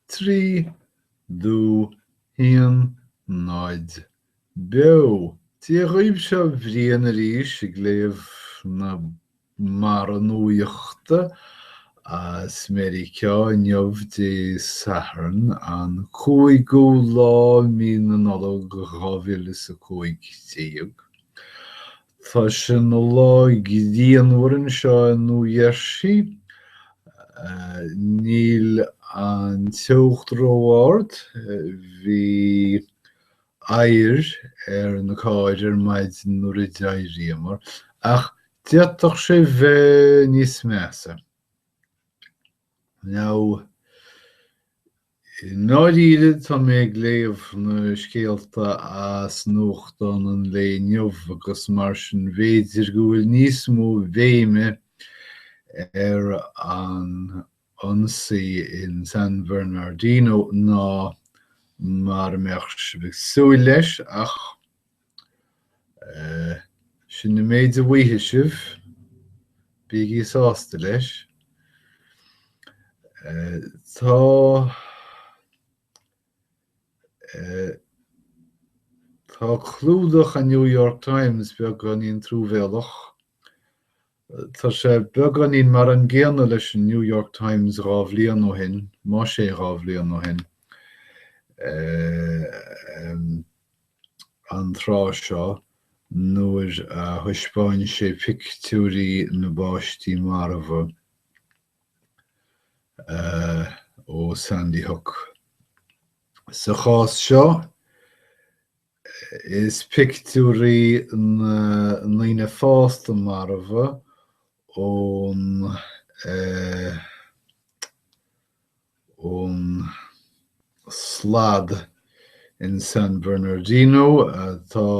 Trí, dó, haon, náid. Beo! Dia dhaoibh, seo Brian arís ag léamh na mbarra nuaíochta as Meiriceá inniu Dé Sathairn an 5ú lá mí na Nollag 2015. Tá sé ina lá grianmhar anseo i Nua Gheirsí. Níl an teocht ró-ard, bhí oighear ar na cairr ar maidin nuair a d'éiríomar, ach d'fhéadfadh sé bheith níos measa. Now. I ndáiríre, tá mé ag léamh na scéalta as nuachtán an lae inniu agus mar sin b'fhéidir go bhfuil níos mó béime ar an ionsaí in San Bernardino ná mar a bheadh sibh ag súil leis ach, Sin an méid a bhfaighidh sibh. Bígí sásta leis. Tá Tá clúdach an New York Times beagáinín truamhéalach. Tá sé beagáinín mar an gcéanna leis an New York Times dhá bhliain ó shin, más ea dhá bhliain ó shin. an tráth seo nuair a thaispeáin sé pictiúirí na bpáistí marbha ó Sandy Hook. Sa chás seo, is pictiúirí na ndaoine fásta marbha ón ón slad in San Bernardino atá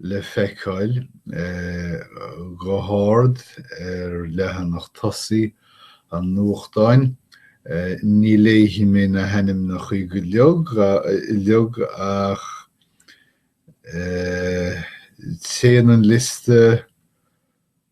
le feiceáil go hard ar leathanach tosaigh an nuachtáin, ní léifidh mé na hainmneacha uilig ach téann an liosta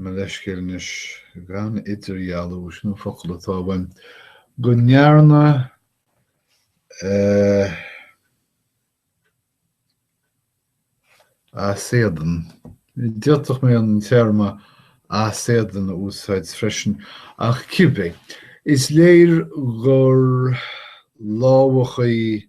mo leithscéal anois, gan idirdhealú, sin an focal atá uaim, go ndearna as éadan, d'fhéadfadh mé an téarma as éadan a úsáid freisin, ach cibé, is léir gur lámhachadh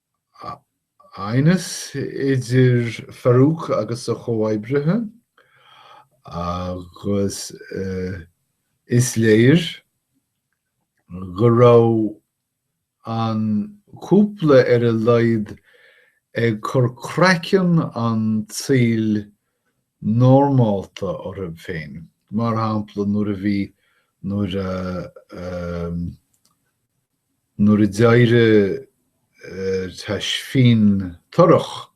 aighneas idir Farouk agus a chomhoibrithe agus is léir go raibh an cúpla ar a laghad ag cur craiceann an tsaoil normálta orthu féin, mar shampla nuair a bhí, nuair a, nuair a d'éirigh Tashfeen torrach,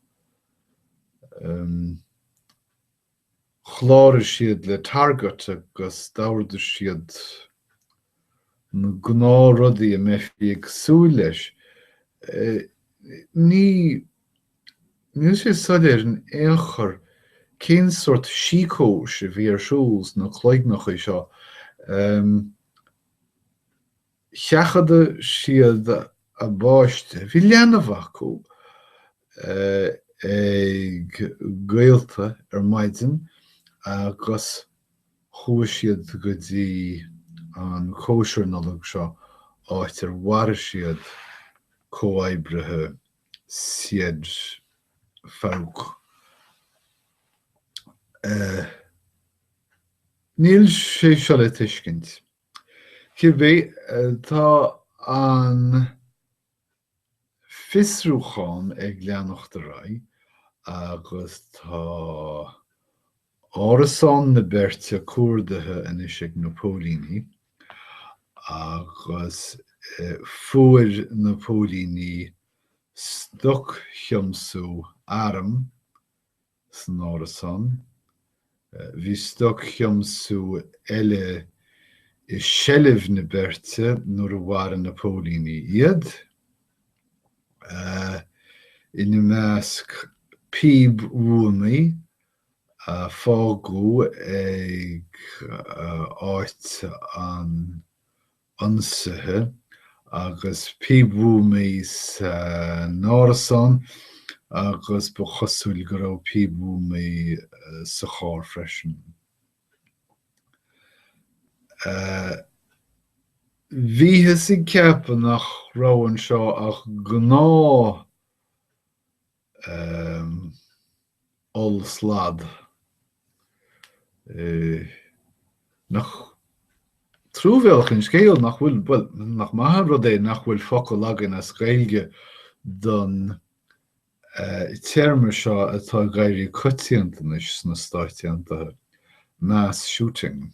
chláraigh siad le Target agus d'ordaigh siad na gnáthrudaí a mbeifí ag súil leis. Ní, Níl sé soiléir in aon chor cén sórt síceois a bhí ar siúl sna cloigneachaí seo. Sheachaid siad a bpáiste, bhí leanbh acu, ag gaolta ar maidin agus chuaigh siad go dtí an chóisir Nollag seo, áit ar mharaigh siad comhoibrithe siad Farouk. Níl sé seo le tuiscint. Cibé, tá an fiosrúchán ag leanacht ar aghaidh agus tá árasán na beirte cuardaithe anois ag na póilíní agus fuair na póilíní stoc-thiomsú arm san árasán, bhí stoc-thiomsú eile i seilbh na beirte nuair a mharaigh na póilíní iad, ina measc píob-bhuamaí fágtha ag áit an ionsaithe agus píob-bhuamaí san árasán agus ba chosúil go raibh píob-bhuamaí sa charr freisin. Bhíothas ag ceapadh nach raibh anseo ach gnáth. oll-slad. Nach truamhéalach an scéal nach bhfuil, bhuel, nach maith an rud é nach bhfuil focal againn as Gaeilge don téarma seo atá ag éirí coitianta anois sna Stáit Aontaithe, mass shooting.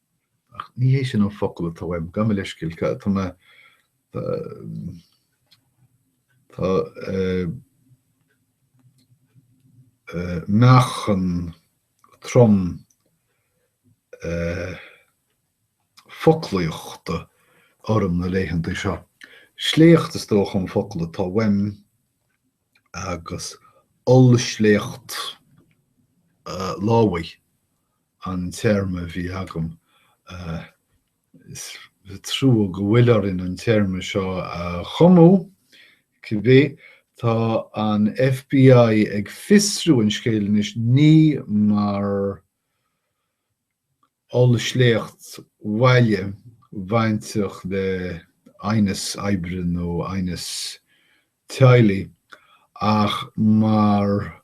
Ach ní hé sin an focal atá uaim, gabh mo leithscéal, tá, tá mé, tá, tá eh, eh, meáchan trom eh, foclaíochta orm na laethanta seo. Sléacht is dócha an focal atá uaim agus ollsléacht eh, lámhaigh. an téarma a bhí agam. Is trua go bhfuil orainn an téarma seo a chumadh. Cibé, tá an FBI ag fiosrú an scéil anois, ní mar ollsléacht bhaile bainteach le aighneas oibre nó aighneas teaghlaigh, ach mar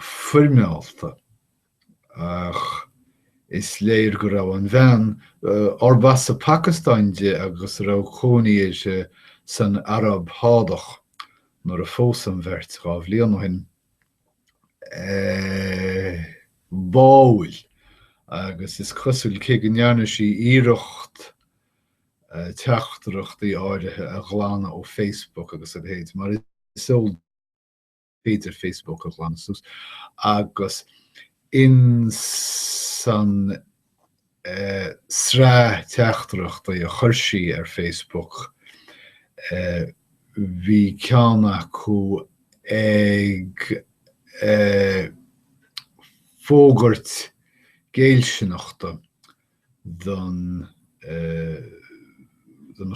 foirmeálta, ach is léir go raibh an bhean, arb as an Phacastáin di agus a raibh cónaí uirthi san Araib Shádach nuair a phós an bheirt dhá bhliain ó shin, báúil agus is cosúil, cé go ndearna sí iarracht teachtaireachtaí áirithe a ghlanadh ó Facebook agus a leithéid, mar is eol féidir Facebook a ghlanadh suas agus insan sraith teachtaireachtaí a chuir sí ar Facebook bhí ceann acu ag fógairt géillsineachta don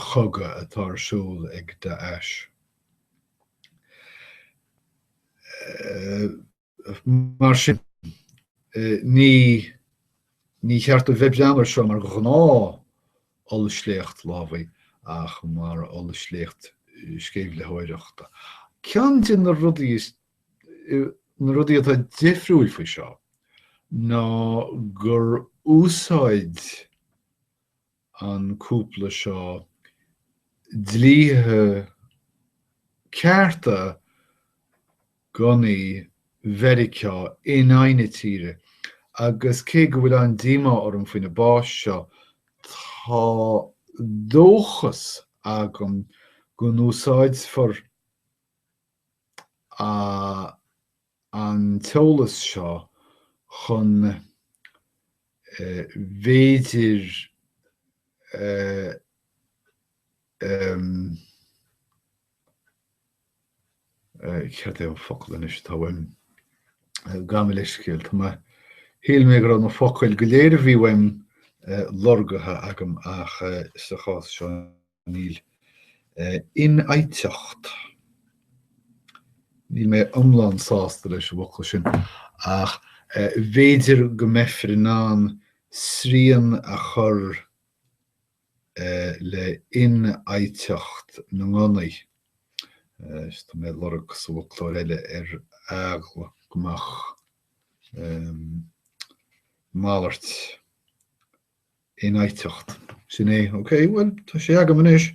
chogadh atá ar siúl ag Daesh. Mar sin, ní ní cheart a bheith ag breathnú air seo mar ghnáth ollsléacht lámhaí ach mar ollsléacht sceimhlitheoireachta. Ceann de na rudaí, na rudaí atá difriúil faoi seo ná gur úsáid an cúpla seo dlíthe cearta gunnaí Mheiriceá in aghaidh na tíre agus cé go bhfuil an-díomá orm faoi na báis seo, tá dóchas agam go n-úsáidfear an. an t-eolas seo chun b'fhéidir céard é an focal anois atá uaim, gabh mo leithscéal, tá mé, shíl mé go raibh na focail go léir a bhí uaim lorgaithe agam ach sa chás seo. Níl. Infhaighteacht. Níl mé iomlán sásta leis an bhfocal sin, ach b'fhéidir go mbeifear in ann srian a chur le hinfhaighteacht na ngunnaí. Tá mé ag lorg sa bhfoclóir eile ar eagla go mbeadh malairt. infhaighteacht. Sin é. OK, bhuel, tá sé agam anois.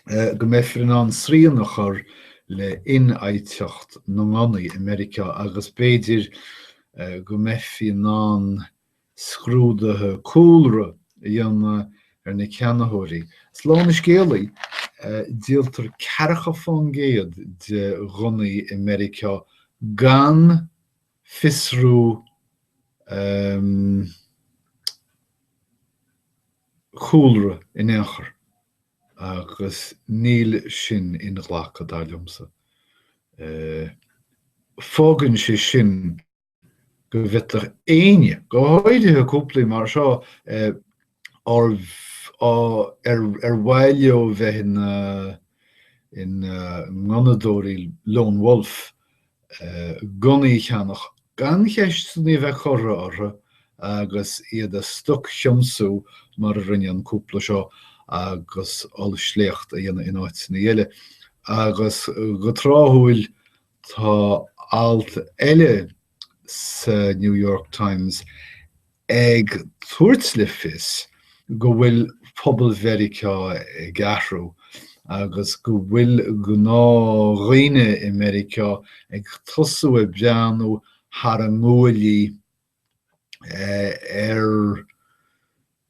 go mbeifear in ann srian a chur le hinfhaighteacht na ngunnaí i Meiriceá agus b'fhéidir go mbeifí in ann scrúduithe cúlra a dhéanamh ar na ceannaitheoirí. Slán an scéalaí, díoltar ceathracha faoin gcéad de ghunnaí i Meiriceá gan, fiosrú cúlra in aon chor agus níl sin inghlactha, dar liomsa. Fágann sé sin go bhféadfadh éinne, go háirithe cúplaí mar seo, ar mhaith leo bheith ina ngunnadóirí lone wolf, gunnaí a cheannach gan ceisteanna a bheith curtha orthu agus iad a stoc-thiomsú mar a rinne an cúpla seo agus ollsléacht a dhéanamh in áiteanna eile. Agus go tráthúil tá alt eile sa New York Times ag tabhairt le fios go bhfuil pobal Mheiriceá ag athrú agus go bhfuil gnáthdhaoine i Meiriceá ag tosú ag breathnú thar a nguaillí ar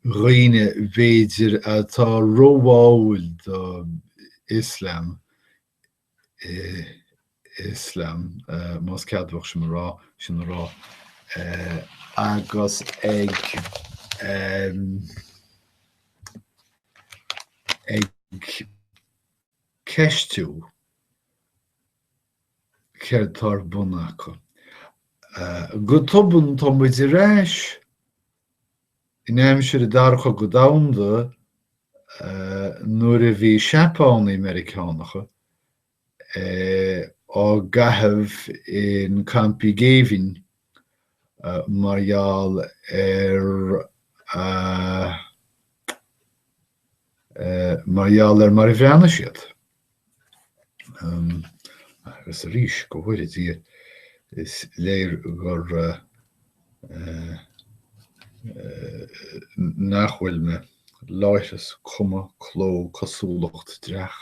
dhaoine, b'fhéidir, atá róbháúil do Ioslam Ioslam, más ceadmhach sin a rá, agus ag ceistiú céard atá ar bun acu. Go tobann, tá muid ar ais! In aimsir an Dara Cogadh Domhanda, nuair a bhí Seapánaigh Meiriceánacha á gcaitheamh in campaí géibhinn mar gheall ar mar a bhreathnaigh siad, Agus arís, go bhfóire Dia, is léir gur, nach bhfuil mé, láithreas, cuma, cló, cosúlacht, dreach.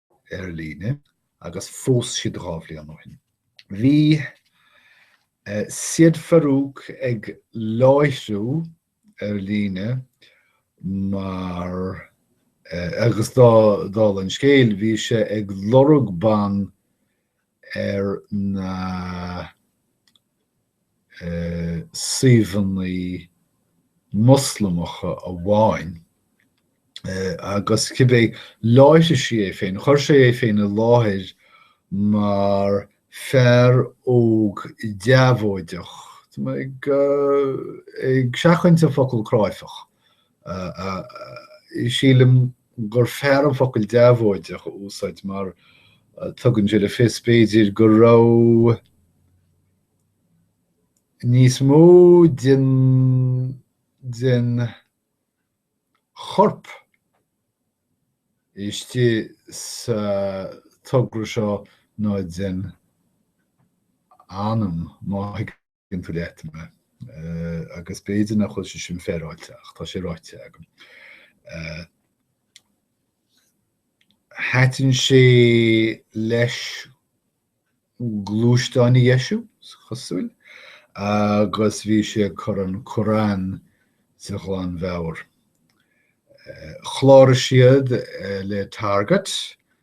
ar líne agus phós siad dhá bhliain ó shin. Bhí Syed Farouk ag láithriú ar líne mar, agus dála an scéil, bhí sé ag lorg ban ar na suíomhanna Moslamacha amháin agus cibé láithriú sé é féin, chuir sé é féin i láthair mar fear óg deabhóideach, ag seachaint an focal cráifeach, Sílim gur fearr an focal deabhóideach a úsáid mar tugann sé le fios, b'fhéidir, go raibh níos mó den chorp istigh sa togra seo ná den anam, má thuigeann. tú leat mé. Agus b'fhéidir nach bhfuil sé sin féaráilte ach tá sé ráite agam. Thaitin sé leis gluaisteáin a dheisiú, is cosúil, agus bhí sé ag cur an Qur'an de ghlanmheabhair. Chláraigh siad le Target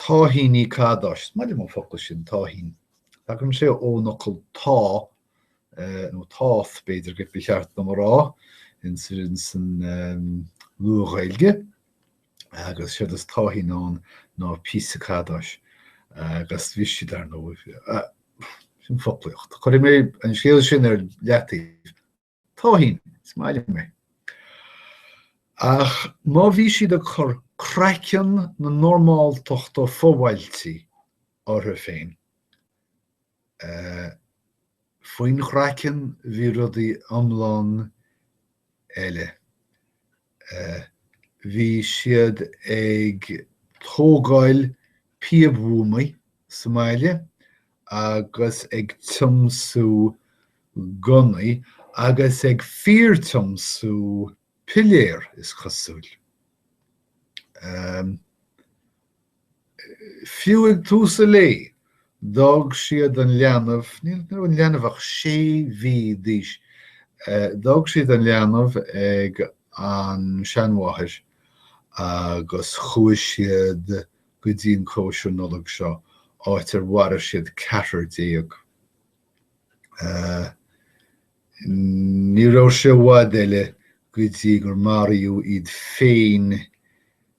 Táithíní cadáis. Is maith liom an focal sin, táithín. Tagann sé ón fhocal táth, nó táth, b'fhéidir gurbh é ba cheart dom a rá, ins an Nua-Ghaeilge, agus séard is táithín ann ná píosa cadáis, agus bhí siad, ar ndóigh, sin foclaíocht. Cuirfidh mé an scéal sin ar leataobh. Táithín, is maith liom é. Ach má bhí siad ag cur craiceann na normáltachta fo-bhailtí orthu féin, faoin gcraiceann bhí rudaí iomlán eile. Bhí siad ag tógáil píobhuamaí sa mbaile agus ag tiomsú gunnaí, agus ag fíor-tiomsú piléir, is cosúil. Fiú ag tús a lae, d'fhág siad an leanbh, ní raibh an leanbh ach sé mhí d'aois, d'fhág siad an leanbh ag an seanmháthair agus chuaigh siad go dtí an chóisir Nollag seo, áit ar mharaigh siad ceathrar déag. Ní raibh sé i bhfad eile go dtí gur maraíodh iad féin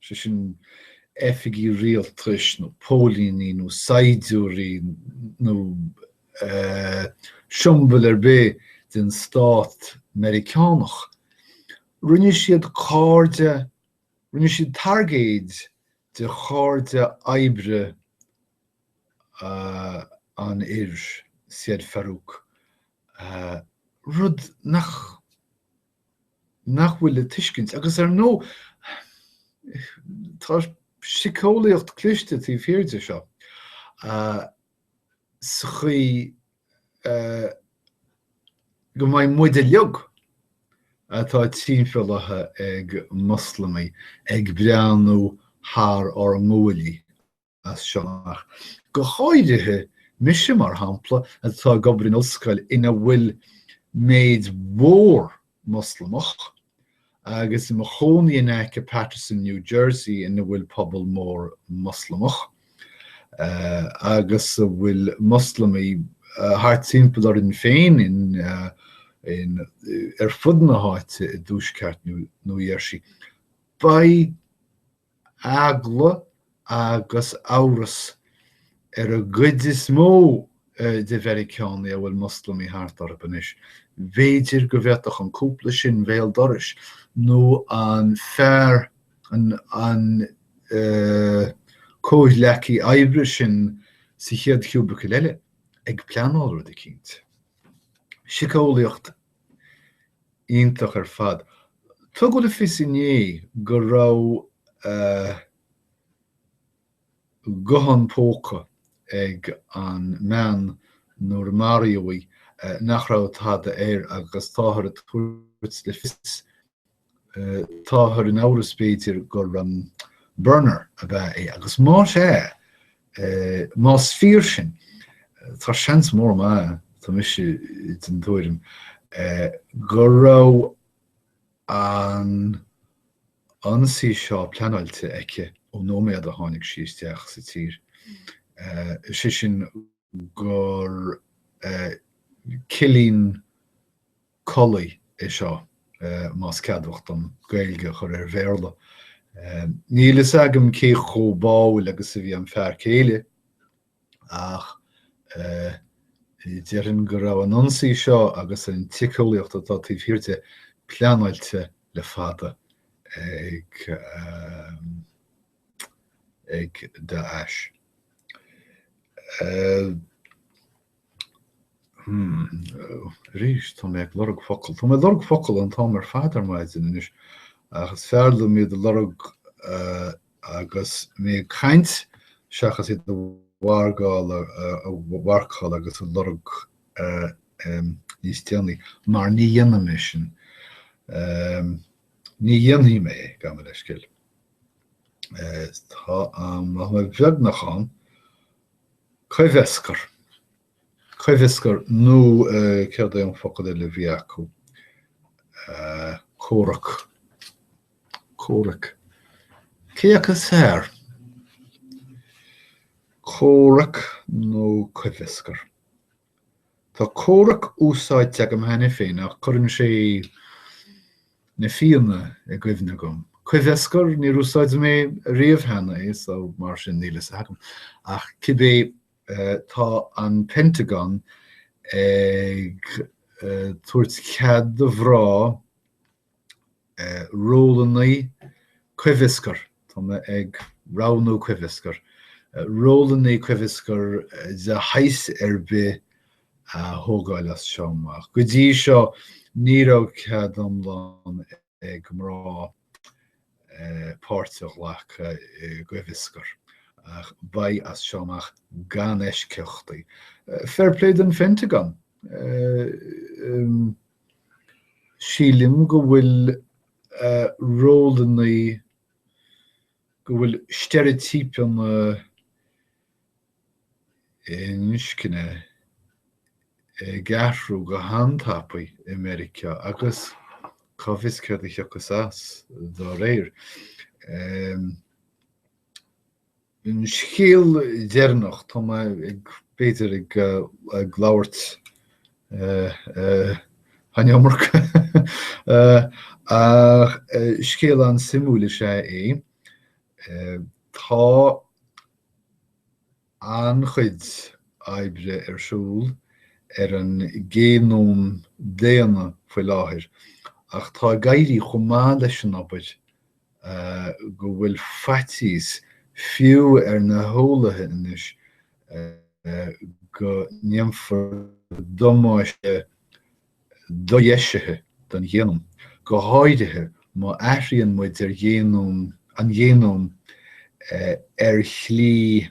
sé sin, oifigí rialtais nó póilíní nó saighdiúirí nó siombail ar bith den stát Meiriceánach. Rinne siad cairde, rinne siad targaid de chairde oibre an fhir, Syed Farook, rud nach. nach bhfuil le tuiscint. Agus ar ndóigh, tá siceolaíocht chliste taobh thiar de seo, sa chaoi go mbeidh muide uilig, atá timpeallaithe ag Moslamaigh, ag breathnú thar ár nguaillí. as seo amach. Go háirithe mise, mar shampla, atá ag obair in ollscoil ina bhfuil méid mhór Moslamach, agus i mo chónaí in aice Paterson, New Jersey, ina bhfuil pobal mór Moslamach, agus a bhfuil Moslamaigh thart timpeall orainn féin ar fud na háite i dtuaisceart New Jersey, beidh eagla agus amhras ar an gcuid is mó de Mheiriceánaigh a bhfuil Moslamaigh thart orthu anois, b'fhéidir go bhféadfadh an cúpla sin bhéal dorais nó an fear, an comhghleacaí oibre sin sa chéad chiúbicil eile, ag pleanáil rud eicínt. Siceolaíocht. Iontach ar fad. Tugadh le fios inné go raibh guthán póca ag an mbean nuair a maraíodh í nach raibh tada air agus táthar ag tabhairt le fios, táthar in amhras b'fhéidir, gur burner ab ea é agus más ea, é. Más fíor sin, tá seans mór maith ann, tá mise den tuairim, go raibh an t-ionsaí seo pleanáilte aici ón nóiméad a tháinig sí isteach sa tír, is é sin gur cillín codlata é seo, más ceadmhach dom Gaeilge a chur ar Bhéarla. Níl fhios agam cé chomh báúil agus a bhí an fear céile ach déarfainn go raibh an t-ionsaí seo agus an tsíceolaíocht atá taobh thiar de pleanáilte le fada ag Daesh. Hmm. Arís, tá mé ag lorg focal. Tá mé ag lorg focal an t-am ar fad ar maidin anois, ach is fearr liom iad a lorg agus mé ag caint seachas iad a mhargáil, a mharcáil agus a lorg níos déanaí, mar ní dhéanfaidh mé sin. Ní dhéanfaidh mé é, gabh mo leithscéal. Tá an, tá mé beagnach ann. Coimheascar. Coimheascar nó céard é an focal eile a bhí acu? comhrac. Comhrac. Cé acu is fearr? Comhrac nó coimheascar? Tá comhrac úsáidte agam cheana féin ach cuireann sé Na Fianna i gcuimhne dhom. Coimheascar, níor úsáid mé riamh cheana é so mar sin níl fhios agam ach cibé tá an Pentagon ag tabhairt cead do mhná, rólannaí coimheascair, tá mé ag roghnú coimheascar. Rólannaí coimheascair de shaghas ar bith a thógáil as seo amach. Go dtí seo ní raibh cead iomlán ag mná páirt a ghlacadh i gcoimheascar ach beidh as seo amach gan eisceachtaí. Fair play don Phentagon! Sílim go bhfuil rólannaí, go bhfuil steireitípeanna inscne ag athrú go han-tapaidh i Meiriceá agus cá bhfios céard a thiocfas as dá réir. An scéal deireanach, tá mé ag, b'fhéidir, ag ag labhairt an iomarca, ach scéal an-suimiúil is ea é. Tá an-chuid oibre ar siúl ar an ghéanóm daonna faoi láthair, ach tá ag éirí chomh maith leis an obair go bhfuil faitíos fiú ar na heolaithe anois go ndéanfar damáiste dodheisithe don ghéanóm, go háirithe má athraíonn muid ar ghéanóm, an géanóm, ar shlí.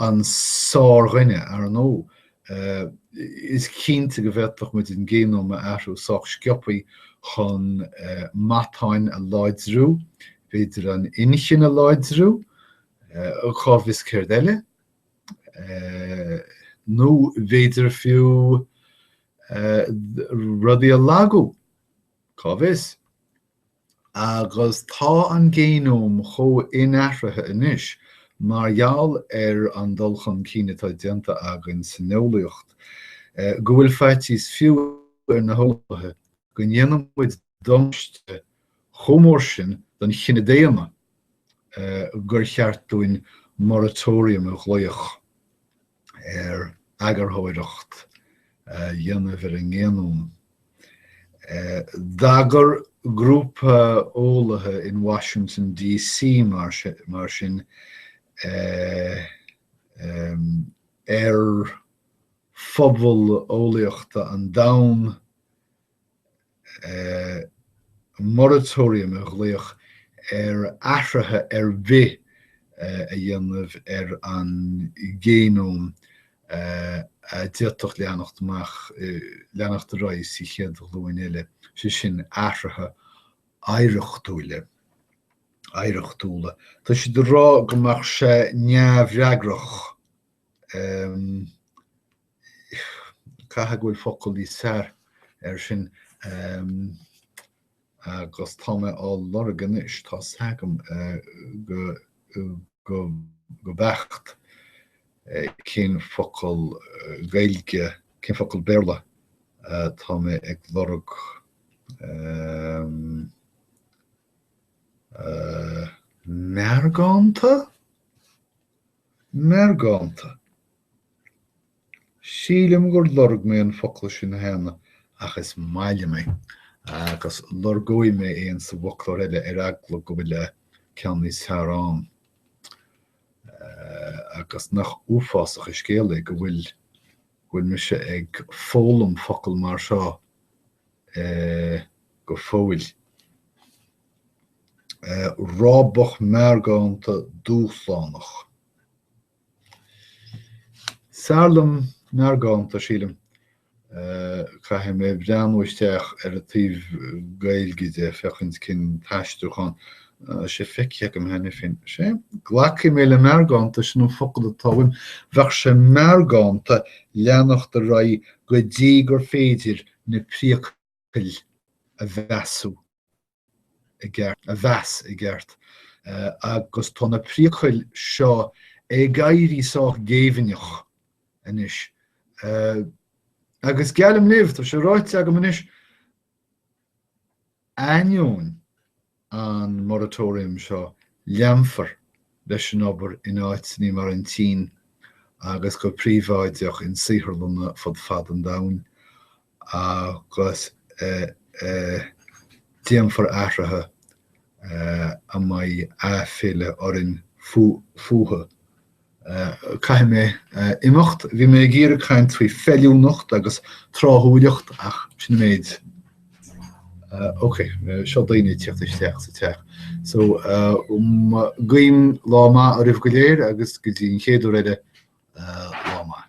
an sár-dhuine, ar ndóigh. Is cinnte go bhféadfadh muid an géanóm a athrú sách sciobthaí chun matáin a láidriú, b'fhéidir an inchinn a láidriú, cá bhfios céard eile? Nó b'fhéidir fiú rudaí a lagú, cá bhfios? Agus tá an géanóm chomh inathraithe anois, mar gheall ar an dul chun cinn atá déanta againn san eolaíocht, go bhfuil faitíos fiú ar na heolaithe go ndéanfaidh muid damáiste chomh mór sin don chine daonna gur cheart dúinn moratorium a ghlaoch. ar eagarthóireacht a dhéanamh ar an ngéanóm. D'agair grúpa eolaithe in Washington DC mar sin ar phobal eolaíochta an domhain moratorium a ghlaoch ar athruithe ar bith a dhéanamh ar an ngéanóm a d'fhéadfadh leanacht amach, leanacht ar aghaidh sa chéad ghlúin eile, sé sin, athruithe oidhreachtúla, oidhreachtúla. Tá siad ag rá go mbeadh sé neamhfhreagrach Caithfidh go bhfuil focal níos fearr air sin agus tá mé á lorg anois, tá 's agam go beacht cén focal Gaeilge, cén focal Béarla atá mé ag lorg. Meargánta? Meargánta. Sílim gur lorg mé an focal sin cheana ach is maith liom é agus lorgóidh mé é in sa bhfoclóir eile ar eagla go bhfuil ceann níos fearr ann. Agus nach uafásach an scéal é go bhfuil go bhfuil mise ag foghlaim focal mar seo go fóill. rábach meargánta dúshlánach. Is fearr liom meargánta, sílim. Caithfidh mé breathnú isteach ar an taobh Gaeilge de, féachaint cén t-aistriúchán tá sé feicthe agam cheana féin. Is é, glacfaidh mé le meargánta, sin an focal atá uaim. Bheadh sé meargánta leanacht ar aghaidh go dtí gur féidir na priacail. cail a mheasú, a mheas i gceart, agus tá na priacail seo ag éirí sách géibhinneach anois, agus geallaim libh, tá sé ráite agam anois, ainneoin an moratorium seo, leanfar leis an obair in áiteanna mar an tSín agus go príobháideach in saotharlanna fud fad an domhain agus déanfar athruithe a mbeidh aiféala orainn fúthu. Caithfidh mé imeacht. Bhí mé ag iarraidh caint faoi feiliúnacht agus tráthúileacht ach sin an méid. Ok, seo daoine ag tíocht isteach sa teach. So, guím lá maith oraibh go léir agus go dtí an chéad uair eile, lá maith.